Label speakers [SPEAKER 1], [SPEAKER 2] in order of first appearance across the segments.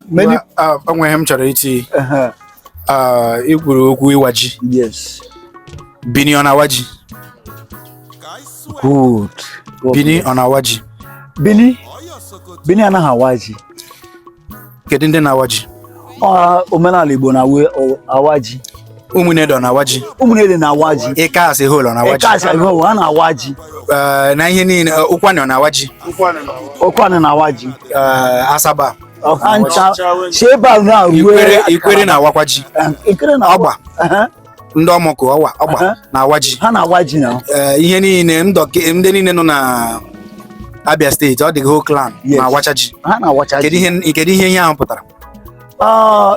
[SPEAKER 1] Many- Well, ah, o nwere ihe m chọrọ iti Uh-huh. ah, i kwuru okwu ịwa ji Yes. bini ọ na-awa ji Good. God bini bless. ọ na-awa ji Bini. Bini anaghị awa ji. kedu ndị na-awa ji Ọ omenala Igbo na awa- ọ- awa ji. Ụmụnede ọ na-awa ji Ụmụnede na-awa ji. ịka as a whole ọ na-awa ji Ịka as a whole na-awa ji. Ah, na ihe niile ah, ụkwanị ọ na-awa ji Ụkwanị na-awa ji. Ah, asaba ọha ncha si ebe ahụ na ruo ikwere ikwere na-awakwa ji ikwere na ọgba Aha, ndị ọmọkụ ọwa ọgba Aha. na-awa ji ha na-awa ji na Ee, ihe niile ndọkị ndị niile nọ na abia steeti all the whole clan Yes. na-awacha ji ha na-awacha kedu ji ihe kedu ihe ihe ahụ pụtara Ah,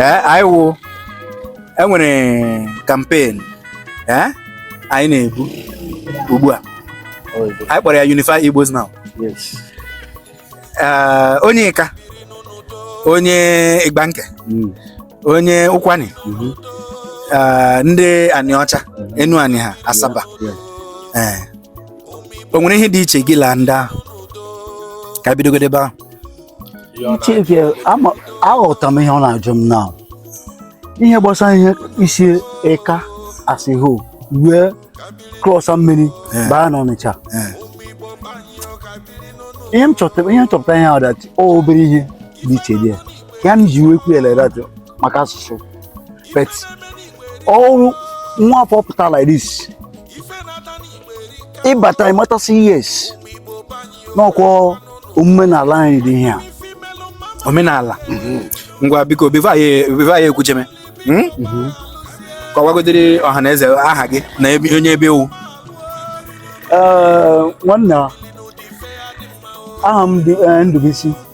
[SPEAKER 1] ee anyị wụ e nwere kampen ee anyị na-ebu ugbu a anyị kpọrọ ya Unify Igbos Now ee onye ịka onye igbanke hmm. onye ụkwani mm-hmm. ee ndị anịọcha mm-hmm. enuanị ha asaba ee o nwere ihe dị iche gị la ndị ahụ ka bidogodi ebe ahụ Chike aghọtara m ihe ọ na-ajụ m na ihe gbasara ihe isi ịka as a whole wee klọsa mmiri eh. baa n'Ọnịcha eh. ihe m chọtara ihe nchọpụta ihe ọdachi obere ihe dị iche dị ya ya m ji nwekwu eledatụ maka asụsụ bet ọrụ nwa afọ pụtara like this ị bata ị mata sị yes n'ọkwa omume n'ala anyị dị ihe a omenala mhm. ngwa biko before ya ekwucheme hmm? mhm. kọwagodiri ọha na eze aha gị na onye ebe ị wụ nwanna aha m eh, Ndubuisi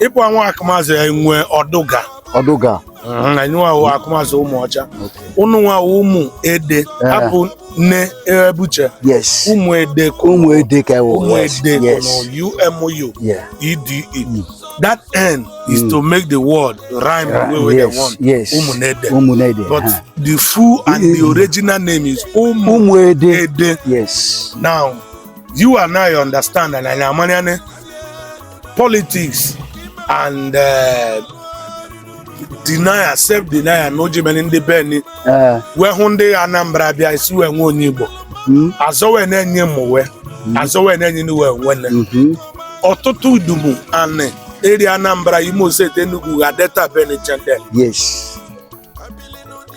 [SPEAKER 1] ịpụ anwụ akụmazụ ya nwee ọdụga ọdụga na nwa awụ akụmazụ ụmụọcha ụnụ nwa awụ ụmụ ede Eh. hapụ nne ebuche yes ụmụ ede ka ụmụ ede ka ị wụ ụmụ yes ede ka yes ụmụ umu yeah ede that n is to make the word rhyme the way wey yes they want yes ụmụ na ede ụmụ na-ede but ha. the full and the Mm. original name is ụmụ ụmụ ede ede yes now you and I understand and anyị amanyane politics and eh, denial self denial na o ji mere ndị bini ee wee hụ ndị anambra bịa isi wee nwe onye igbo mm, azọ wee na-enye m uwe azọ wee na-enye ndị wee nwene mhm, ọtụtụ udumu anị eri anambra imo steeti enugu ga delta bini chandel yes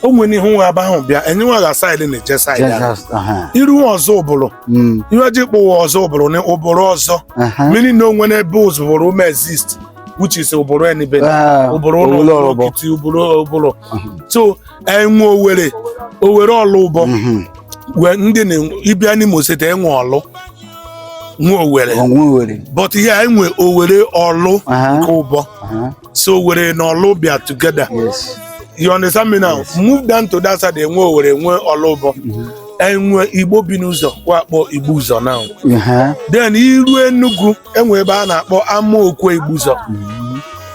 [SPEAKER 1] o nwere ihe nwa aba ahụ bịa enye nwa ga side na-eje side ahụ. Jesus, uh-huh. i ru nwa Ọzụbụrụ Mm, ihe ji kpụwa ọzọ ụbụrụ na ụbụrụ ọzọ uh-huh. mmiri na o nwe n'ebe Ọzụbụrụ ume exist which is ụbụrụ enibe Ah, ụbụrụ ụlọ owele ụbụrụ ọrụbọ. okiti ụbụrụ ụbụrụ Mhm, so enwe owere owere Ọlụbọ mhm. wee ndị na ị bịa n'Imo State enwe ọlụ nwe owere O nwe Owere. but ihe enwe owere ọlụ Uh-huh, nke ụbọ uh-huh. so Owere na ọlụ bịa together Yes. you understand me now move down to that side enwe owere enwe ọlụbọ enwe igbo bi n'ụzọ wa kpọ igbo ụzọ now Uh-huh. then i ru Enugu enwe ebe a na-akpọ ama okwe igbo ụzọ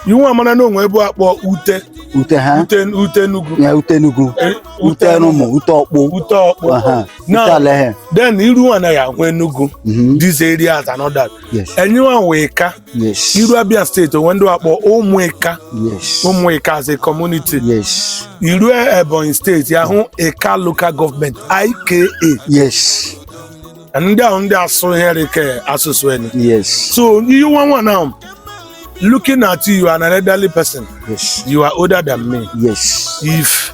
[SPEAKER 1] iwu amara na o nwe ebe a kpọ ute Ute ha. ute ute enugu Ya ute Enugu. Eh, Ute Erumu. Ute Ọkpụ. Ute Ọkpụ Uh-huh. Ute Now- Alohen. then i ru anaghị ahụ enugu Mhm. this area as another Yes. enyiwa wee ka Yes. I ru Abia State o nwe ndị a kpọ Ụmụika. Yes. Ụmụika as a community. Yes. I ru Ebonyi State ya hụ Ika Local Government IKA. Yes. Ndị ahụ ndị asụ here ke asụsụ enyi. Yes. So you want one now. Looking at you, you are an elderly person. Yes. You are older than me. Yes. If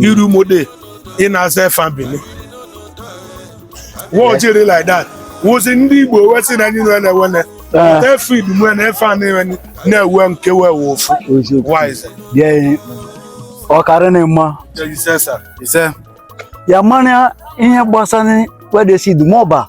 [SPEAKER 1] iru mode ị na-aza efa Bini we jiri like that wụzi ndị igbo we sị na anyị nwe na-ewene efa idumwe na efa na-ewe na-ewe nke wee wụ ofu wise bịa ọkara na mma ise sa ise ya mara ihe gbasara wedesi Idumọba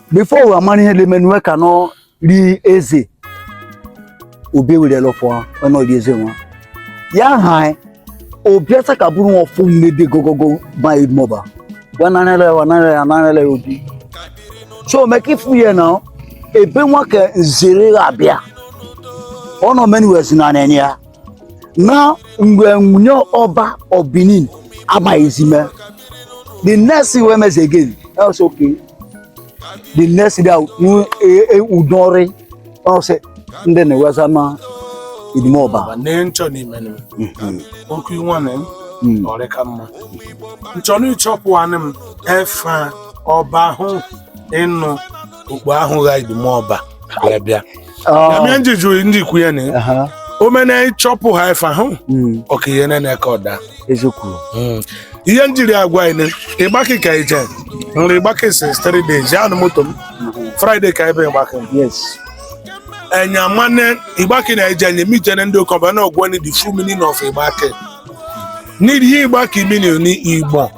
[SPEAKER 1] before ụwa mara ihe na-eme nwe ka nọ rie eze obi werela pụọ ọnọdụ eze nwa ya ha obi asa ka bụrụ nwa ọfụ mmebe gogogo bayi mọba wa nanere wa nanere ya nanere obi so meka ifu ya na ebe nwa ka nzere abịa ọ nọ menu wezi na nenye ya na mgbe nwunye ọba of Benin amaghịzime the next thing wey mess again else okay the next day udori ọsị ndị na-eweza ma Idumọba nchọ n'ime mhm. okwu nwa na hmm. ọrị ka mma nchọ n'ịchọpụ anị m efe ọba ahụ ịnụ okpu ahụ gha Idumọba wee bịa ya mee ndị jụrụ ndị ikwu ya na Aha, omena ịchọpụ ha ife ahụ mm, ọka ihe na ka ọda eziokwu ihe e jiri agwa anyị na Igbanke ka ije nri Igbanke since three days ya anụ moto m Friday ka ebe Igbanke m yes enya mane Igbanke na eje nye mi jene ndị ụkọba na ọgwọ ni the full meaning of Igbanke need ihe Igbanke meaning ni igbo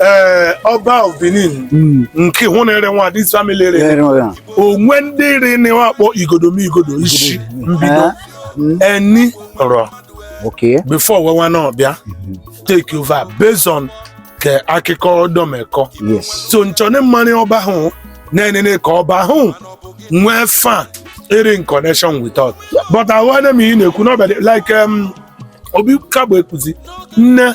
[SPEAKER 1] ee ọba of Benin Mm. nke hụ na ere nwa this family ere Ere nwa. o nwe ndị rị na nwa akpọ Igodomigodo isi mbido Eh, mm, eni rọ Okay. before we nwa na ọbịa take over based on ka akụkọ domekọ Yes. so nchọni m marị ọba ahụ na-enene ka ọba ahụ nwee fa iri in connection with us but ahụane m ihe na-ekwu n'ọbịa like um, obi kagbo ekuzi nne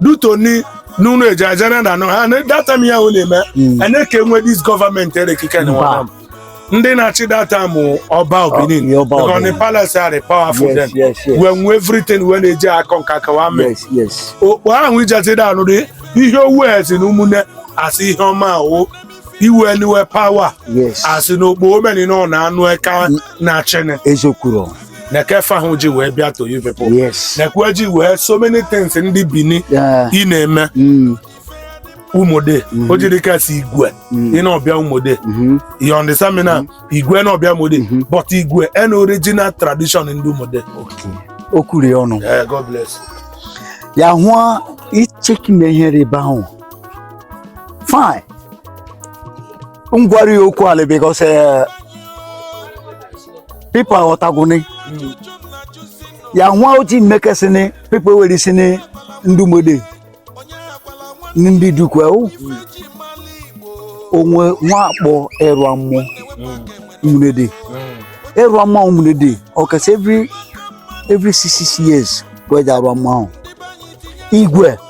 [SPEAKER 1] duto ni n'ụlọ eji ajana na anọ ha na data m ya ahụ na-eme anyị ka enwe dis gọọmenti erekike na Mba. nwana m. ndị na-achị data mụ ọba Ọ, ọ Benin ihe ọba because the Benin. palace are powerful Yes, then yes, yes. we nwe everything we na-eji akọ nka kawa mee yes yes okpo ahụ ijatide anụ dị ihe owu esi na ụmụnne asị ihe ọma ahụ i wee nwe power yes asị na ogbo omeni na ọ na-anụ eka na chene ezokwuru na kefa ahụ ji wee bịa to you people yes nekwe ji wee so many things ndị Bini Yeah. ị na-eme Mm, Ụmụnede o jiri kasị igwe ị na-ọbịa Ụmụnede mhm. you understand me now igwe na-ọbịa Ụmụnede but igwe an original tradition ndị Ụmụnede Okay. o kwuru ya ọnụ Eh, God bless you. ya hụọ icheki na ihe rịba ahụ fine m gwara ya okwu ala because eh, people aghọtagwụni ya nwa ojii mmekesịnị people were ị sị ni ndị Ụmụnede ni ndị dukwe o o nwe wa akpọ ịrụa mmọ Ụmụnede ịrụa mmọ ahụ Ụmụnede ọkasị every every six six years wee ji arụa mmọ ahụ igwe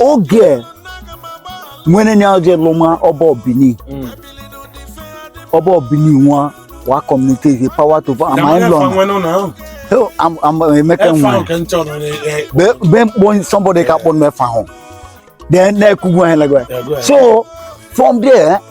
[SPEAKER 1] oge nwere nya oge lụma ọba of Benin mm. ọba of Benin nwa wa communicate power to ama ịlọ emeka nwe be mkpọ somebody ka kpọ nwe fa hụ then na-ekwugwu ha so from there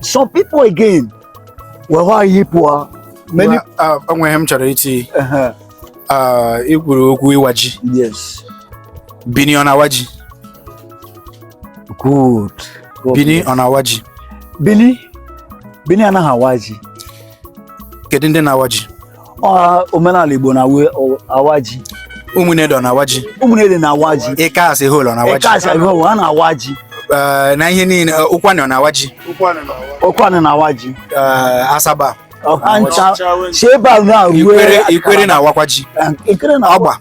[SPEAKER 1] some people again were ihe pụọ many uh, o nwe ihe m chọrọ iti uh-huh. uh, i kwuru okwu ịwa ji yes Bini ọ na-awa ji good Bini ọ na-awa ji Bini Bini anaghị awa ji kedu ndị na-awa ji omenala Igbo na awa ji Ụmụnede ọ na awa ji Ụmụnede na awa ji Ika as a whole na awa ji Ika as a whole ha na awa ji eh, na ihe niile eh, Ụkwụanị na awa ji Ụkwụanị na awa ji eh, Asaba ọ ha ncha si ebe a na-arụ Ikwere na awakwa ji Ọgba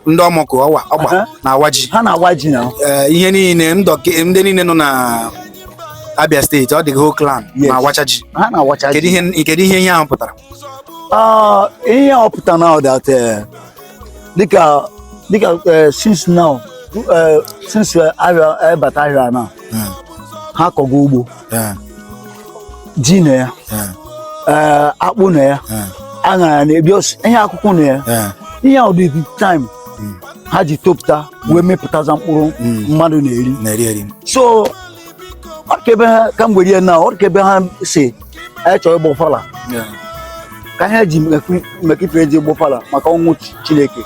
[SPEAKER 1] ndị Omoku Ọwa Ọgba Aha. na-awa ji ha na-awa ji na Ee, ihe niile ndọke- ndị niile nọ na Abia steeti the whole clan Yes. na-awacha ji ha na-awacha kedu ji ihe kedu ihe ihe ahụ pụtara Ah, ihe ọ pụta now that eh, dịka dịka eh, since now eh, since eh, ahịa eh, bata ahịa na ha akọgo ugbo Ee. ji na ya eh, akpụ na ya aṅara na ebi ihe akwụkwọ na ya ihe a ụdị time hmm. ha ji topụta wee mịpụtazia mkpụrụ hmm. mmadụ na-eri so ọ ka ebe ha ka mgberi ya na ọ ka ebe ha si anyị chọrọ ịgba ọfala ka ihe ji mekipere ji ịgba ọfala maka ọnwụ Chineke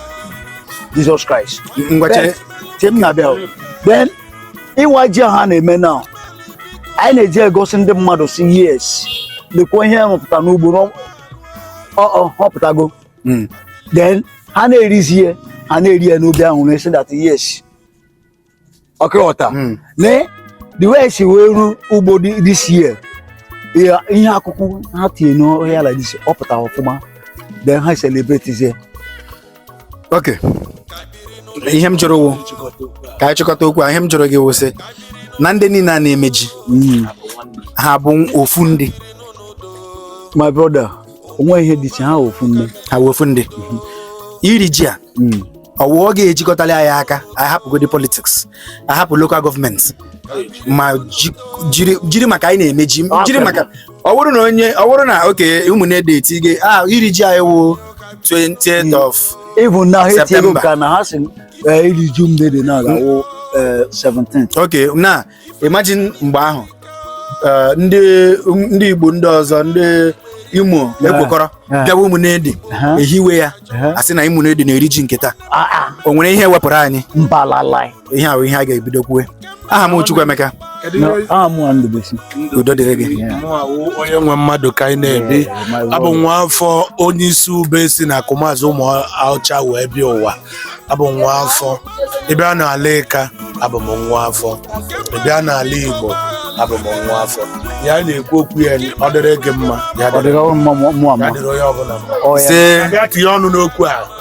[SPEAKER 1] Jizọs Kraịst mgbe m na-abịa then ịwa ji ahụ a na-eme na anyị na-eji egosi ndị mmadụ sị yes lekwa ihe rụpụta n'ugbo na ọ- ọ ọ pụtago Mm. then ha na-erizi ihe ha na-eri ya n'obi ahụ na-asị that yes ọ kwa ị ghọta Mm. lee the way e si wee rụ ugbo dị- this year ihe ihe akụkụ ha tinye n'ọhịa like this ọ pụtara ọfụma then ha celebrate ya okay ihe m jụrụ wụ ka anyị chịkọta okwu a ihe m jụrụ gị wụ sị na ndị niile a na-eme ji ha bụ ofu ndị my brother o nweghị ihe dị iche ha ofu nne ha wụ ofu ndị iri ji a Mm. ọ wụ ọ ga-ejikọtali anyị aka anyị hapụgodi politiks anyị hapụ lokal gọọmenti ma ji- jiri jiri maka anyị na-eme ji jiri maka ọ bụrụ na onye ọ bụrụ na okay Ụmụnede eti gị ah iri ji anyị wụ 20th of ịbụ na ha etinyego September. nke a na ha si eh, iri ji mgbede na ga-awụ eh, 17 okay now imagine mgbe ahụ eh, ndị ndị Igbo ndị ọzọ ndị Imo ekwokọrọ Yeah. bịawa Ụmụnede Uh-huh. ehiwe ya Uh-huh. a sị na Ụmụnede na-eri ji nke taa Ah, ah, o nwere ihe ọ wepụrụ anyị mbalalai ihe wụ ihe a ga-ebido kwue aha m Chukwuemeka aha m nwa Ndubisi udo dịrị gị onye nwe mmadụ ka anyị na-ebi abụ m nwa afọ onye isi ube si na Akumazi Ụmụọcha wee bịa ụwa abụ m nwa afọ ị bịa n'ala Ịka abụ m nwa afọ ị bịa n'ala Igbo abụ m nwa afọ ya na-ekwu okwu ya dịrị gị mma ya dịrị onye ọbụla mma tinye ọnụ n'okwu a